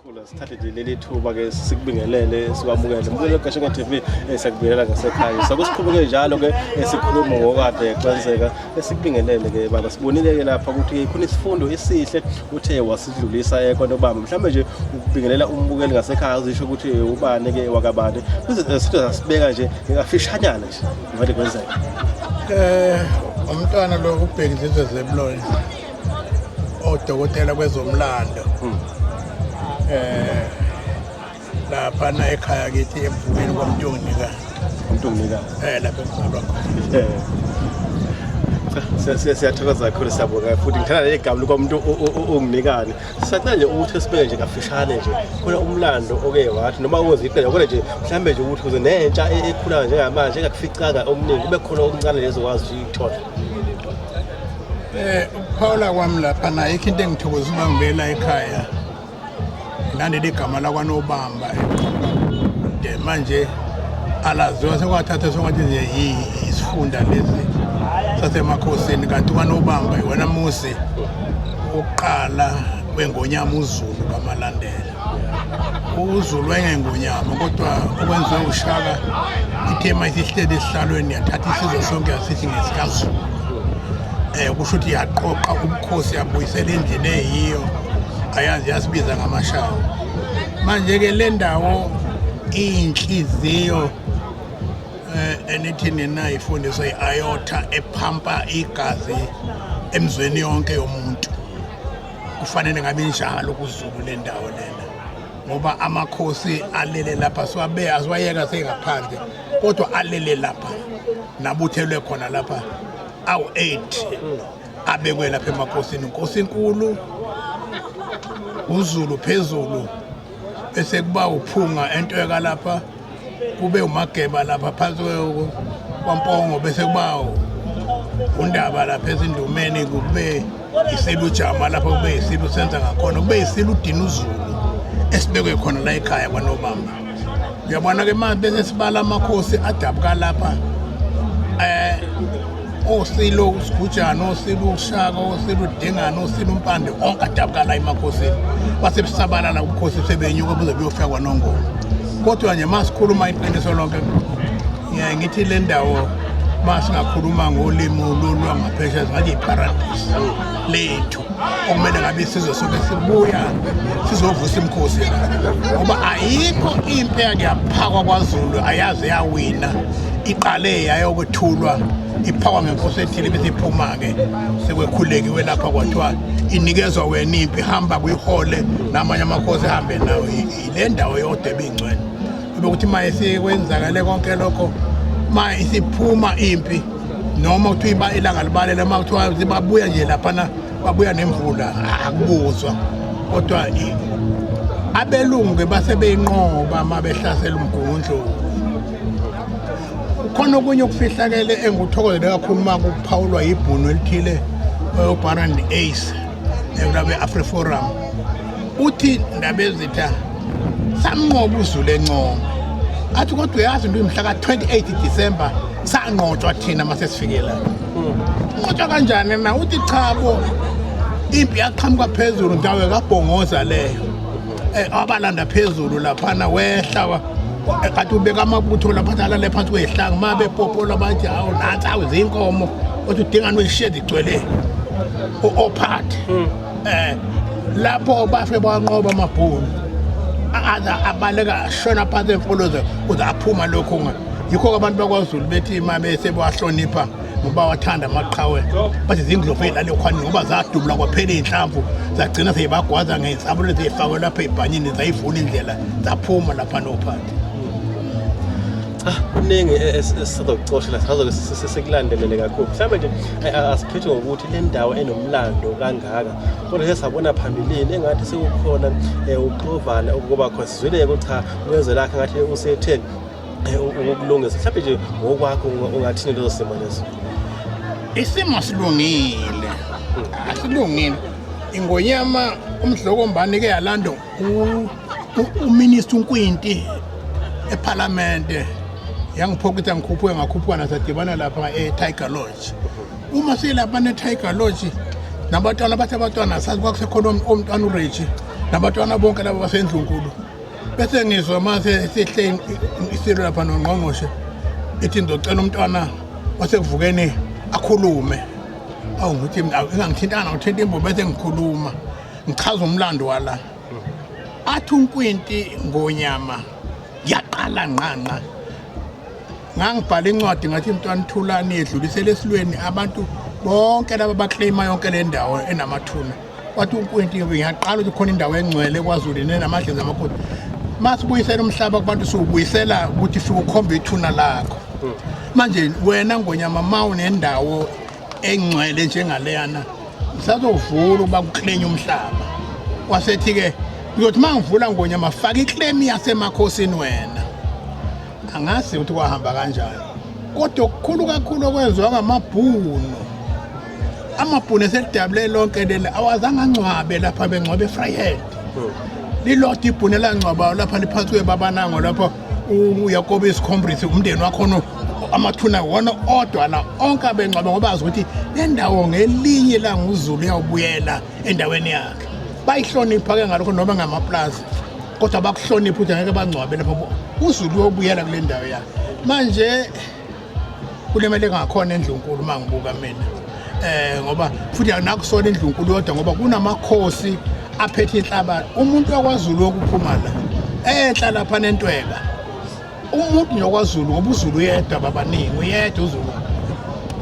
Khula sithathe nje leli thuba ke sikubingelele sikwamukele mbuzo Gashenge TV eh, siyakubingelela ngasekhaya sakusiqhubeke njalo ke eh, sikhuluma ngokade exanseka eh, sikubingelele ke baba sibonile ke lapha ukuthi khona isifundo esihle uthe wasidlulisa ekona ubaba mhlawumbe nje ukubingelela umbukeli ngasekhaya uzisho ukuthi ubani ke wakabani sithe sasibeka nje ngafishanyana Ngathi kwenzeka. Eh umntwana lo ubhekisise zebuloyi. Odokotela kwezomlando. Hmm. Eh lapha na ekhaya kithi emvumeni kwamntungnika. Umntungnika. Eh lapha emzalwa khona. Eh. siyathokoza kakhulu siyabonga futhi ngithanda leli gama lokuba umuntu unginikane sicela nje ukuthi sibeke nje kafishane nje khona umlando oke wathi noma ukwenza iqela kodwa nje mhlawumbe nje ukuthi kuze nentsha e- ekhulayo njengamanje engakuficanga omningi kube khona okuncane lezo wazi ukuyithola Eh ukuphawula kwami lapha nayo ikho into engithokoza uma ngibuyela ekhaya. Ngilandele igama lakwanobamba. De manje alaziwa sekwathatha sengathi nje yi- isifunda lesi sasemakhosini kanti kwanobamba iwona muzi ukuqala kwengonyama uzulu kamalandela uzulu engengonyama kodwa okwenziwe ushaka ithe uma isihleli esihlalweni yathatha isizwe sonke yasithi ngesikazulu um kusho ukuthi yaqoqa ubukhosi yabuyisela endlini eyiyo ayazi yasibiza ngamashawo manje-ke le ndawo iyinhliziyo Eh, enithi nina ifundisa i-iota ephampa igazi emzweni yonke yomuntu kufanele ngabe injalo kuzulu le ndawo lena ngoba amakhosi alele lapha siwabe asiwayeka sengaphandle kodwa alele lapha nabuthelwe khona lapha awu-8 abekwe lapha emakhosini nkosi inkulu uzulu phezulu bese kuba uphunga entweka lapha kube umageba lapha phansi kwampongo bese kuba undaba lapha ezindumeni kube isilu jama lapho kube isilu senza ngakhona kube isilu udina uzulu esibekwe khona la ekhaya kwanobamba uyabona ke manje bese sibala amakhosi adabuka lapha eh osilo usigujana osilo ushaka osilo udingana osilo umpande onke adabuka la emakhosini basebusabalala ubukhosi sebenyuka buze buyofika kwanongoma kodwa nje uma sikhuluma iqiniso lonke ngiyaye ngithi le ndawo uma singakhuluma ngolimi olulwangaphesha singathi yiparadisi lethu okumele ngabe isizwe sonke sibuya sizovusa imikhosi ngoba ayikho impi eyake yaphakwa kwazulu ayaze yawina iqale yayokwethulwa iphakwa ngenkosi ethile bese iphuma-ke sekwekhulekiwe lapha kwathiwa inikezwa wena impi hamba kuyihole namanye amakhosi ehambe nawo yile ndawo yodwa ebingcwele bekuthi uma isikwenzakale konke lokho uma isiphuma impi noma kuthiwa ilanga libalele uma kuthiwa babuya nje laphana babuya nemvula akubuzwa kodwa abelungu-ke base beyinqoba uma behlasela umgungundlovu khona okunye okufihlakele engikuthokozele kakhulu uma kuphawulwa yibhunu elithile obaran ace ekulabe afriforum uthi ndaba ezitha samnqoba uzulu encoma athi kodwa uyazi into imhla ka-28 december sanqotshwa thina uma sesifike la nqotshwa kanjani na uthi cha bo impi yaqhamuka phezulu ndawo kabhongoza leyo um abalanda phezulu laphana wehla wa- eh, kade ubeka amabutho laphana alale phansi kwezihlanga uma bepopola bathi hawu nansi awu zinkomo othi udingani weshedi igcwele ophathi um lapho bafe banqoba amabhunu abaleka ashona phansi emfoloze kuze aphuma lokhu yikho-ke abantu bakwazulu bethi uma besebewahlonipha ngoba wathanda amaqhawe bathi zindlovu ey'lalekhwani ngoba zadubula kwaphela iy'nhlamvu zagcina seyibagwaza ngey'nsabule zeyifakwe lapha ey'bhanyini zayivula indlela zaphuma lapha nophansi ah, kuningi e-, esizokucoshela sazoke sesikulandelele kakhulu mhlawumbe nje asiphethe ngokuthi le ndawo enomlando kangaka kodwa ke sabona phambilini engathi sekukhona um eh, uxovana okuba khona sizwile-ke ukuthi cha kuyezwe lakhe ngathi usetheni ukulungisa mhlawumbe nje ngokwakho ungathini lezo simo lezo isimo silungile asilungile ingonyama umdlokombani ke yalanda uminister unkwinti ephalamende yangiphokitha ngikhuphuke ngakhuphuka nasadibana lapha e-tiger lodge uma silapha ne-tiger lodge nabatwana bathi abatwana sazi kwakusekhona umntwana ureji nabatwana bonke laba basendlunkulu bese ngizwa mase sihle isilo lapha nongqongqoshe ithi ngizocela umntwana wasekuvukeni akhulume awu ngithi ingangithintanga ngithinta imbo bese ngikhuluma ngichaza umlando wala athi unkwinti ngonyama yaqala nqanqa ngangibhala incwadi ngathi mntwana thulani yedlulisele esilweni abantu bonke laba bakleyima yonke le ndawo enamathuna wathi uNkwinti ngiyaqala ukuthi khona indawo engcwele kwaZulu nenamadleza amakhosi masibuyisela umhlaba kubantu siwubuyisela ukuthi siwukhombe ithuna lakho hmm. manje wena ngonyama ma unendawo engcwele njengaleyana sazovula uba kuklenya umhlaba wasethi-ke uzothi uma ngivula ngonyama faka iklemi yasemakhosini wena angazi ukuthi kwahamba kanjani kodwa okukhulu kakhulu okwenziwa ngamabhunu amabhunu eselidabule lonke leli awazange angcwabe lapha bengcwabe efryhead hmm. lilodwa ibhunu elangcwabayo lapha liphansi kwebabanango lapho uyakobe isikhombrise umndeni wakhona amathuna wona odwa la onke abengcwabe ngoba azi ukuthi le ndawo ngelinye languzulu uyawubuyela endaweni yakhe bayihlonipha ke ngalokho noma ngamaplazi kodwa bakuhlonipha ukuthi angeke bangcwabe lapho uzulu uyobuyela kule ndawo yakhe manje kulimele ngakhona endlunkulu uma ngibuka mina um ngoba futhi nakusona indlunkulu yodwa ngoba kunamakhosi aphethe inhlabathi umuntu wakwazulu wokuphuma la enhla lapha nentweka umuntu nokwazulu ngoba uzulu uyedwa babaningi uyedwa uzulu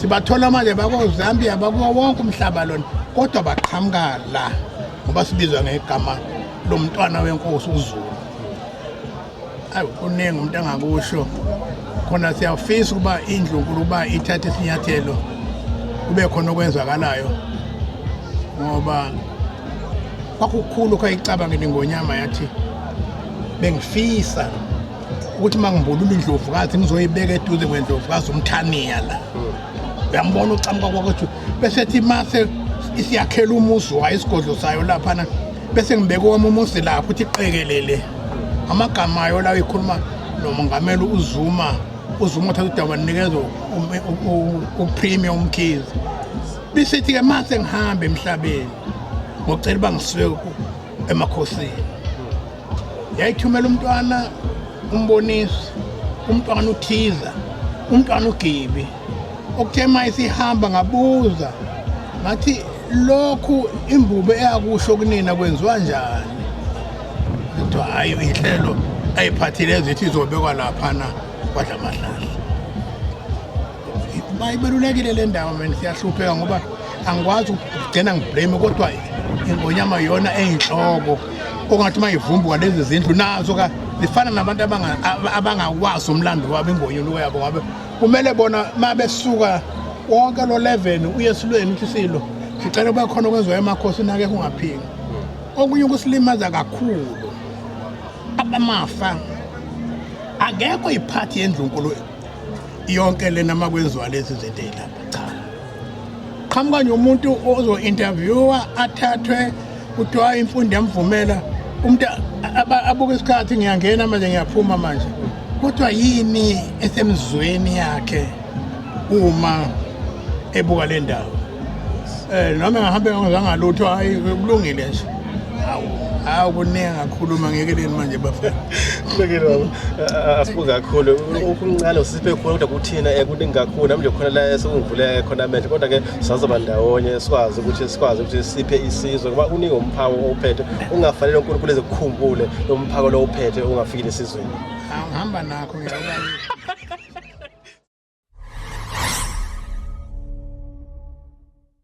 sibathola manje bakozambia bakuwo wonke umhlaba lona kodwa baqhamuka la ngoba sibizwa ngegama lomntwana wenkosi uzulu ayi kuningi umuntu angakusho khona siyafisa ukuba indlu nkulu ukuba ithathe isinyathelo kube khona okwenzakalayo ngoba kwakukhulu khayicabangele ngonyama yathi bengifisa ukuthi uma ngibulula indlovukazi ngizoyibeka eduze kwendlovukazi umthaniya la uyambona ucamuka kwakwethu bese thi mase isiyakhela umuzi wayo isigodlo sayo laphana bese ngibeka owami umuzi lapho ukuthi iqekelele amagama ayo lawo ikhuluma nomongameli uzuma uzuma uthatha udaba ninikeza upremier umkhizi bisithi-ke ma sengihambe emhlabeni ngocela uba ngisuke emakhosini yayithumela umntwana umbonisi umntwana uthiza umntwana ugibi Okuthe uma isihamba ngabuza ngathi lokhu imbubo eyakusho kunina kwenziwa njani kuthiwa hhayi inhlelo ayiphathile ezithi izobekwa laphana kwadla amahlahla bayibalulekile le ndawo mina siyahlupheka ngoba angikwazi ukugcina ngiblame kodwa ingonyama yona eyinhloko ongathi uma ivumbuka lezi zindlu nazo ka zifana nabantu abangakwazi umlando wabo ingonyuluko yabo ngabe kumele bona uma besuka wonke lo 11 uye esilweni ukuthi silo sicela kube khona okwenziwa emakhosi nake kungaphiki okunye ukusilimaza kakhulu abamafa akekho iphathi yendlunkulu yonke lena makwenziwa lezi zinto lapha cha qhamuka nje umuntu ozo-interviewa athathwe kuthiwa imfundo yamvumela umuntu abuke isikhathi ngiyangena manje ngiyaphuma manje kodwa yini esemzweni yakhe uma ebuka le ndawo um noma engahambe ngangizangalutho hhayi kulungile nje hawu hawu kuningi ngakhuluma ngekeleni manje bafana asibuke kakhulu ukumncane usiphe khona kodwa kuthina um kuningi kakhulu nami nje khona la esokungivuleke khona amehlo kodwa-ke sazoba ndawonye sikwazi ukuthi sikwazi ukuthi siphe isizwe ngoba uningi umphako owuphethe ungafanele uNkulunkulu ezikukhumbule lo mphako lo uphethe ungafikile esizweni angihamba nakho ngiyabona